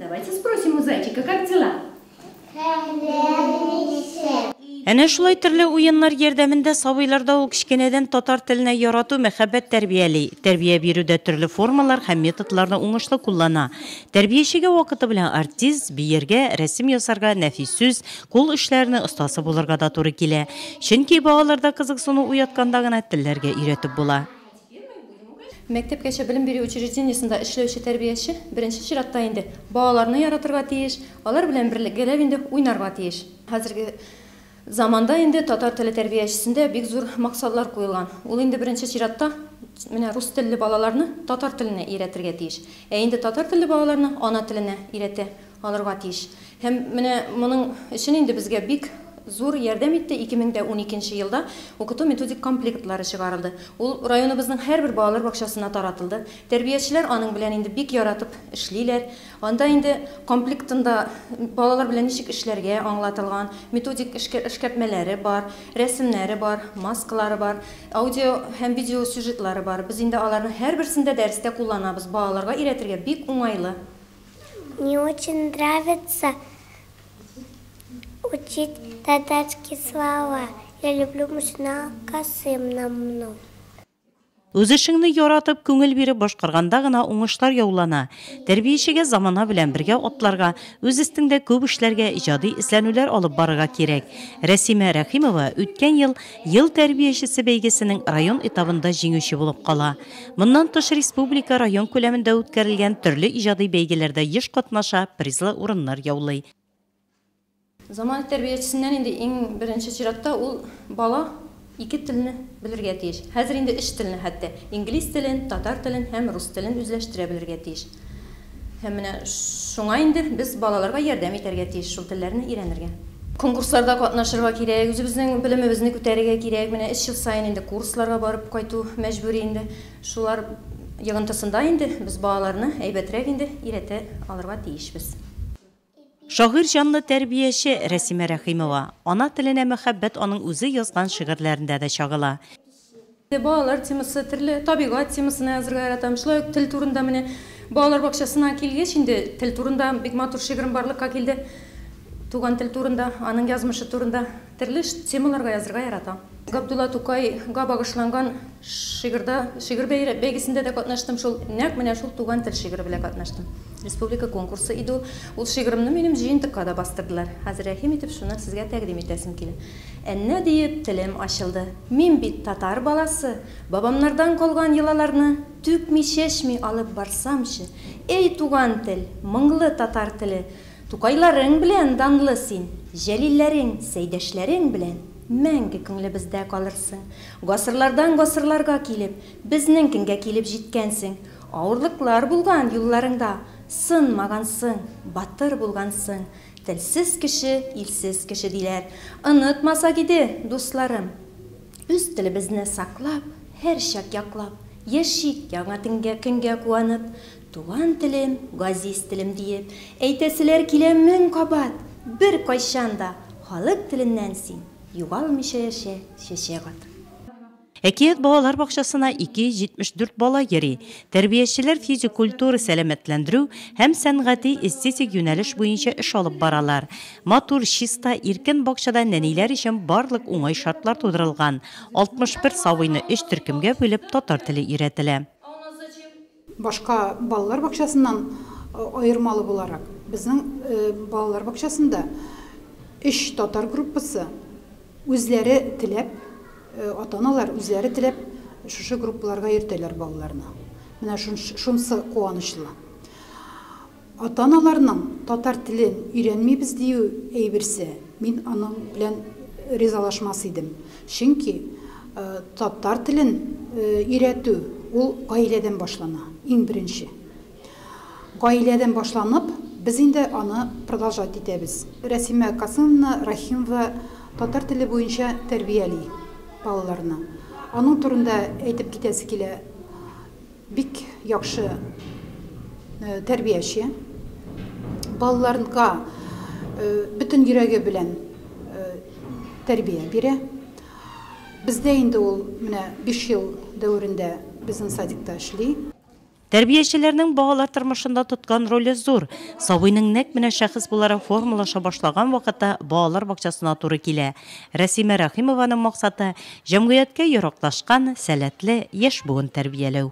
Давайте спросим у зайчика, как дела? Әнә шулай төрле уеннар ярдәмендә сабыйларда ул кечкенәдән татар теленә ярату, мәхәббәт тәрбияли. Тәрбия бирүдә төрле формалар һәм методларны уңышлы куллана. Тәрбиячегә вакыты белән артист, биергә, рәсем ясарга, нәфис сүз, кул эшләренең остасы булырга да туры килә. Чөнки балаларда кызыксыну уятканда гына телләргә өйрәтеп була. Мәктәпкәчә белем бирү учреждениесендә эшләүче тәрбияче, беренче чиратта инде, балаларны яратырга тиеш, алар белән берлегәләп инде уйнарга тиеш. Хәзерге заманда инде татар теле тәрбиячесендә бик зур максатлар куелган. Ул инде беренче чиратта менә рус телле балаларны татар теленә өйрәтергә тиеш. Ә инде татар телле балаларны ана теленә өйрәтә. Алырга тиеш. Һәм менә моның өчен инде безгә бик зур ярдәм итте, 2012 нче елда укыту-методик комплектлары чыгарылды. Ул районыбызның һәрбер балалар бакчасына таратылды. Тәрбиячеләр аның белән инде бик яратып эшлиләр. Анда инде комплектында балалар белән ничек эшләргә аңлатылган, методик эшкәртмәләре бар, рәсемнәре бар, маскалары бар, аудио һәм видео сюжетлары бар. Без инде аларның һәрберсен дә дәрестә кулланабыз, балаларга өйрәтергә бик уңайлы. Мне очень нравится учить татарские слова. Я люблю Мушна Касым намну. Үз эшеңне яратып, күңел биреп башкарганда гына уңышлар яулана. Тәрбиячегә замана белән бергә атларга, үз өстеңдә күп эшләргә, иҗади эзләнүләр алып барырга кирәк. Рәсимә Рәхимова үткән ел Ел тәрбиячесе бәйгесенең район этабында җиңүче булып кала. Моннан тыш республика, район күләмендә үткәрелгән төрле иҗади бәйгеләрдә еш катнаша, призлы урыннар яулый. Заманов тәрбиячесеннән инде иң беренче чиратта ул бала ике телне белергә тиеш. Хәзер инде өч телне хәтта, инглиз телен, татар телен һәм рус телен үзләштерә белергә тиеш. Һәм менә шуңа инде без балаларга ярдәм итәргә тиеш шул телләрне өйрәнергә. Конкурсларда катнашырга кирәк, үзебезнең белемебезне күтәрергә кирәк. Менә өч ел саен инде курсларга барып кайту мәҗбүри инде. Шулар йогынтысында инде без балаларны әйбәтрәк инде өйрәтә алырга тиешбез. Шагыйрь җанлы тәрбияче Рәсимә Рәхимова. Ана теленә мәхәббәт аның үзе язган шигырьләрендә дә чагыла. Балалар темасы, төрле табигать темасына язырга яратам. Шулай ук тел турында менә балалар бакчасына килгәч инде, тел турында бик матур шигырем барлыкка килде. Туган тел турында, аның язмышы турында. Төрле темаларга язырга ярата. Габдулла Тукай га багышланган шигырьда, шигырь бәйгесендә дә катнаштым, шул, нәкъ менә шул Туган тел шигыре белән катнаштым. Республика конкурсы иде ул. Ул шигыремне минем җыентыкка да бастырдылар. Хәзер рәхим итеп шуны сезгә тәкъдим итәсем килә. Әннә диеп телем ачылды. Мин бит татар баласы, бабамнардан калган йолаларны түкми-чәчми алып барсамчы, Эй, туган тел, моңлы татар теле, Тукайларың белән данлы син, Җәлилләрең, Сәйдәшләрең белән Мәңге күңлебездә калырсың. Гасырлардан гасырларга килеп, Безнең көнгә килеп җиткәнсең. Авырлыклар булган юлларыңда, Сынмагансың, батыр булгансың. Телсез кеше, илсез кеше, диләр. Онытмасак иде, дусларым. Үз телебезне саклап, Һәрчак яклап, Яшик яңа көнгә куанып. Туган телем, газиз телем диеп әйтәселәр килә мең кабат, беркайчан да халык теленнән син югалмыйча яшә, чәчәк атып. Әкият балалар бакчасына 274 бала йөри. Тәрбиячеләр физик культура, сәламәтләндерү һәм сәнгати-эстетик юнәлеш буенча эш алып баралар. Матур, чиста, иркен бакчада нәниләр өчен барлык уңай шартлар тудырылган. 61 сабыйны өч төркемгә бүлеп татар теле өйрәтелә. Башка балалар бакчасыннан аермалы буларак, безнең балалар бакчасында өч татар группасы үзләре теләп, ата-аналар үзләре теләп шушы группаларга йөртәләр балаларны. Менә шунсы куанычлы. Ата-аналарның татар телен өйрәнмибез дию әйберсе, мин аның белән ризалашмас идем. Чөнки татар телен өйрәтү ул гаиләдән башлана, иң беренче. Гаиләдән башланып, без инде аны продолжать итәбез. Рәсимә Касымовна Рәхимова татар теле буенча тәрбияли балаларны. Аның турында әйтеп китәсе килә. Бик яхшы тәрбияче. Балаларга бөтен йөрәге белән тәрбия бирә. Бездә инде ул менә биш ел дәверендә безнең садикта эшли. Тәрбиячеләрнең балалар тормышында тоткан роле зур. Сабыйның нәкъ менә шәхес буларак формалаша башлаган вакыты балалар бакчасына туры килә. Рәсимә Рәхимованың максаты, Җәмгыятькә яраклашкан, сәләтле яшь буын тәрбияләү.